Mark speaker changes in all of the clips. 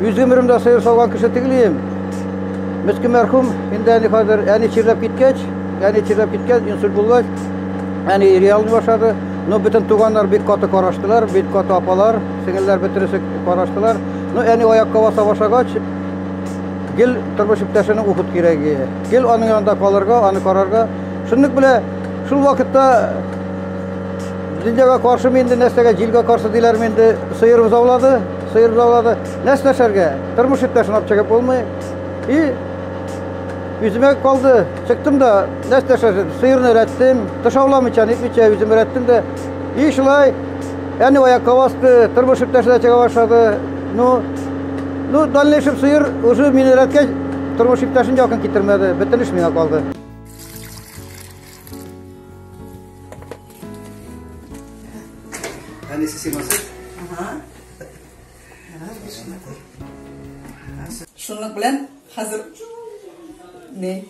Speaker 1: Үз гомеремдә сыер сауган кеше түгелем. Мескин мәрхүм инде әни хәзер әни чирләп киткәч, әни чирләп киткәч, инсульт булгач, әни реалны башлады. Но бөтен туганнар бик каты караштылар, бик каты апалар, сеңелләр бөтенесе караштылар. Но әни аякка баса башлагач, гел тормыш иптәшенең ухут кирәге. Гел аның янында калырга, аны карарга. Шундук белә, шул вакытта Дөньяга каршы инде нәрсәгә, җилгә каршы диләрме инде, сыер бозаулады, сыер бозаулады. Нәрсә эшләргә? Тормыш иптәшен алып чыгып булмый. И үземә калды. Чыктым да, нәрсә эшләсен? Сыерны рәттем, тышауламыйча, нитмичә үзем рәттем дә. И шулай, әни аякка басты, тормыш иптәше дә чыга башлады. Ну, ну, дальнейшем сыер уже мине рәткәч, тормыш иптәшен якын китермәде. Бөтен эш миңа калды. Ani si si masuk? Aha. Şunluk bilen hazır. Ne?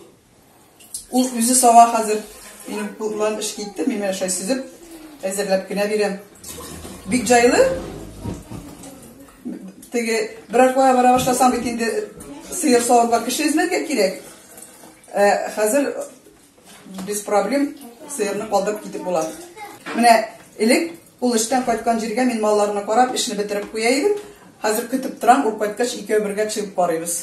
Speaker 1: Ул үзе сава хәзер. Минем куллан эш китте, мин менә шулай сизеп әзерләп кенә бирәм. Бик җайлы. Теге берәр куя бара башласам бит инде сыер савырга кеше эзләргә кирәк. Ә хәзер Без проблем сыерны калдырып китеп була. Менә элек ул эштән кайткан җиргә мин малларны карап, эшне бетереп куя идем. Хәзер көтеп торам, ул кайткач икәү бергә чыгып карыйбыз.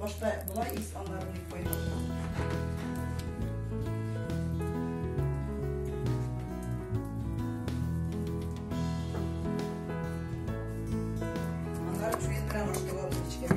Speaker 1: Башта былай ис аннары ник файда. Аннары чуен белән аштырып эчкән.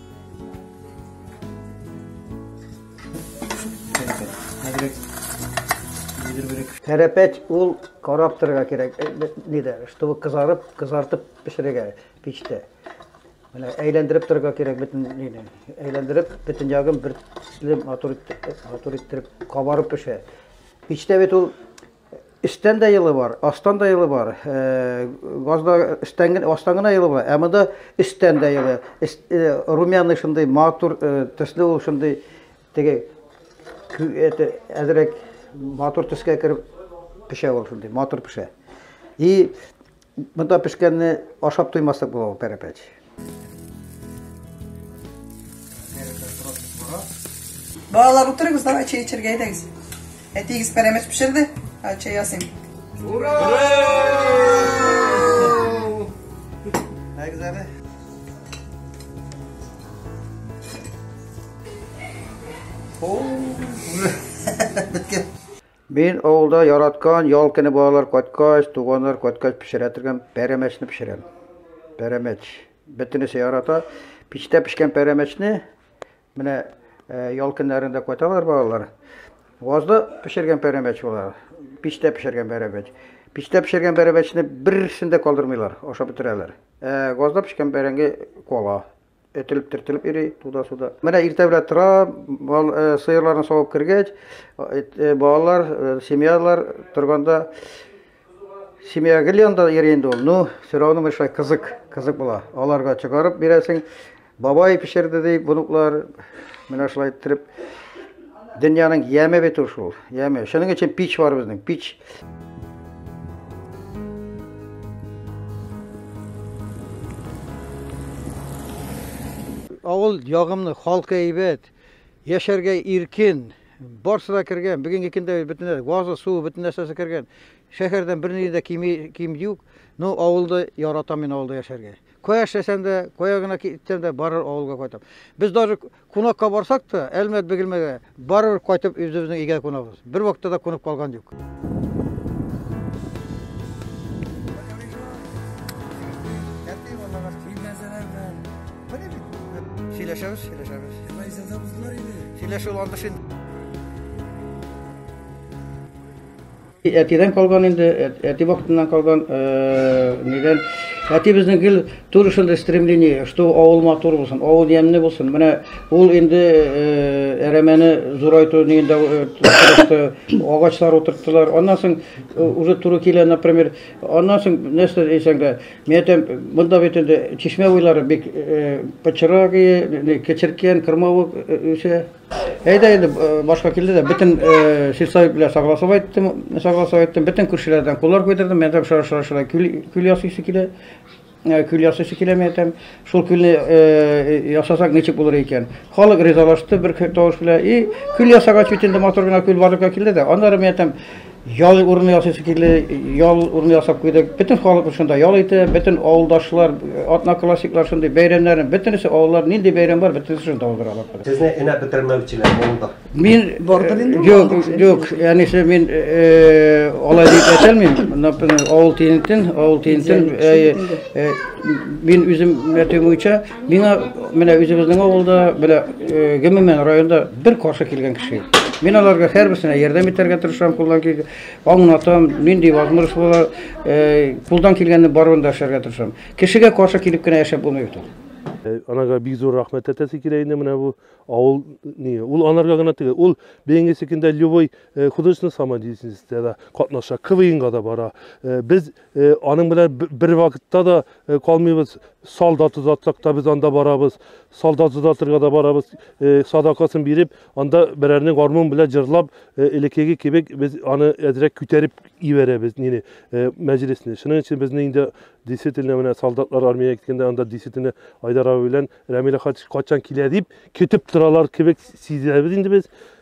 Speaker 1: Тәрәпәч ул карап торырга кирәк, нидә, чтобы кызарып, кызартып пешерергә пичтә. Менә әйләндереп торырга кирәк бөтен нидә. Әйләндереп, бөтен ягын бер төсле матур иттереп, матур иттереп кабарып пешә. Пичтә бит ул Өстән дә елы бар, астан да елы бар. Газда өстән генә, астан гына елы бар. Ә монда өстән дә елы. Румяный шундый матур төсле ул шундый теге это әзрәк матур төскә кереп пешә ул шундый матур пешә. И Монда пешкәнне ашап туймаслык була ул пәрәпәч. Балалар утырыгыз, давай чәй эчәргә әйдәгез. Әтиегез пәрәмәч пешерде, ә чәй ясыйм. Ура! Әгез әле. Оу! Мин авылда яраткан ял көне балалар кайткач, туганнар кайткач пешерә торган пәрәмәчне пешерәм. Пәрәмәч. Бөтенесе ярата. Пичтә пешкән пәрәмәчне менә э, ял көннәрендә кайталар балалар. Вазда пешергән пәрәмәч була. Пичтә пешергән пәрәмәч. Пичтә пешергән пәрәмәчне берсен дә калдырмыйлар, ашап бетерәләр. Ә газда пешкән бәрәңге кола. Этелеп төртелеп йөри туда-суда. Менә иртә белән тора, бал, э, сыерларны савып кергәч, э, балалар, э, семьялар торганда семья гел янда йөри инде ул. Ну, сорауны менә шулай кызык, кызык була. Аларга чыгарып бирәсең. Бабай пешерде ди, бунуклар. Менә шулай иттереп Дөньяның яме бит ул шул, яме. Шуның өчен пич бар безнең, пич. Авыл ягымны, халкы әйбәт, яшәргә иркен, барсы да кергән. Бүгенге көндә бөтен газы, суы, бөтен нәрсәсе кергән. Шәһәрдән берни дә кими, ким юк. Но авылда яратам мин авылда яшәргә. Кая эшләсәм дә, кая гына китсәм дә, барыр авылга кайтам. Без даже кунакка барсак та, Әлмәт Бегелмәгә барыр кайтып үзебезнең өйгә кунабыз. Бер вакытта да кунып калган юк. Сөйләшәбез, сөйләшәбез. Мәйзәдә булдылар инде. Сөйләшү андыш инде. Әтидән калган инде, әти вакытыннан калган, нидән. Әти безнең гел түр шундый стремление, что авыл матур булсын, авыл ямьле булсын. Менә ул инде әрәмәне зурайту нигендә тырышты, агачлар утырттылар. Аннан соң уже туры килә, например, аннан соң нәрсә дисәң дә, мин әйтәм, монда бит инде чишмә буйлары бик почерагые, кечеркән, кырмавык үсә. Әйдә инде э, башка килде дә, бөтен э, сельсовет белән согласовать айттым, согласовать айттым, бөтен күршеләрдән куллар куйдырдым, мен әйтәм, шара шара шара күл, күл ясыйсы килә, э, күл ясыйсы килә, мен әйтәм, шул күлне ясасак ничек булыр икән. Халык ризалашты бер тавыш белән, и күл ясагач бит инде матур гына күл барлыкка килде дә, аннары мен әйтәм, Ял урыны ясыйсы килде, ял урыны ясап куйдык. Бөтен халык шунда ял итә, бөтен авылдашлар, одноклассниклар шундый бәйрәмнәрен, бөтенесе авыллар нинди бәйрәм бар, бөтенесе шунда уздыралар. Сезне энә бетермәүчеләр булды. Мин бардыр инде. Юк, юк, әнисе мин алай дип әйтәлмим. Авыл тиентен, авыл тиентен мин үзем әйтүем буенча Миңа менә үзебезнең авылда, менә гомумән районда бер каршы килгән кеше юк. Мин аларга һәрберсенә ярдәм итәргә тырышам, кулдан килгән, аңлатам, нинди возможность була, кулдан килгәнне барыбын да эшләргә тырышам. Кешегә каршы килеп кенә яшәп булмый бит ул. Анага бик зур рәхмәт әйтәсе килә инде менә бу авыл ни ул анарга гына түгел ул бәйге секендә любой художественный самодеятельностьтә дә катнаша квнга да бара без Э, аның белән бер вакытта да э, калмыйбыз солдат озатсак та без анда барабыз солдат озатырга да барабыз э, садакасын биреп анда берәрне гармун белән җырлап элеккеге кебек без аны әзрәк күтәреп ибәрәбез нине мәҗлесне шуның өчен безне инде действительно менә солдатлар армиягә киткәндә анда действительно айдар абый белән рәмилә хач кайчан килә дип көтеп торалар кебек сизәбез инде без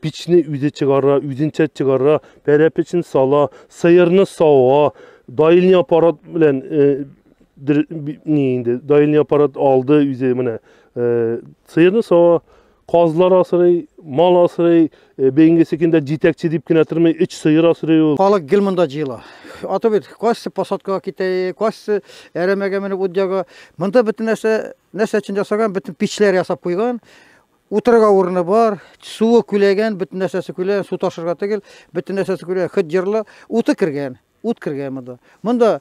Speaker 1: Пичне үзе чыгара, үзенчә чыгара, пәрәпечен сала, сыерны сава, даилни аппарат белән э, дер, ни инде, даилни аппарат алды үзе менә. Э, сыерны сава, казлар асырый, мал асырый, э, бәйинге секендә җитәкче дип кенә тормый, өч сыер асырый ул. Халык гел монда җыела. Аты бит, кайсы посадкага китә, кайсы әрәмәгә менеп удьяга. Монда бөтен нәрсә, нәрсә өчен ясаган, бөтен пичләр ясап куйган. Утырырга урыны бар, суы күләгән, бөтен нәрсәсе күләгән, су ташырга түгел, бөтен нәрсәсе күләгән, хит җырлы, уты кергән, ут кергән монда. Монда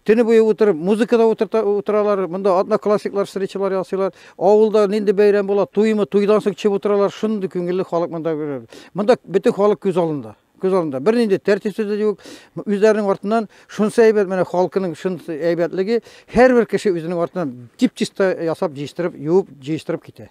Speaker 1: төне буе утырып, музыкада утырта, утыралар, монда атна классиклар, встречалар ясыйлар. Авылда нинди бәйрәм була, туймы, туйдан соң чып утыралар, шундый күңелле халык монда. Монда бөтен халык күз алында. Күз алдында бер нинди тәртипсез дә юк. Үзләренең артыннан шунсы әйбәт, менә халкының шунсы әйбәтлеге, һәрбер кеше үзенең артыннан дип чиста ясап, җыештырып, юып, җыештырып китә.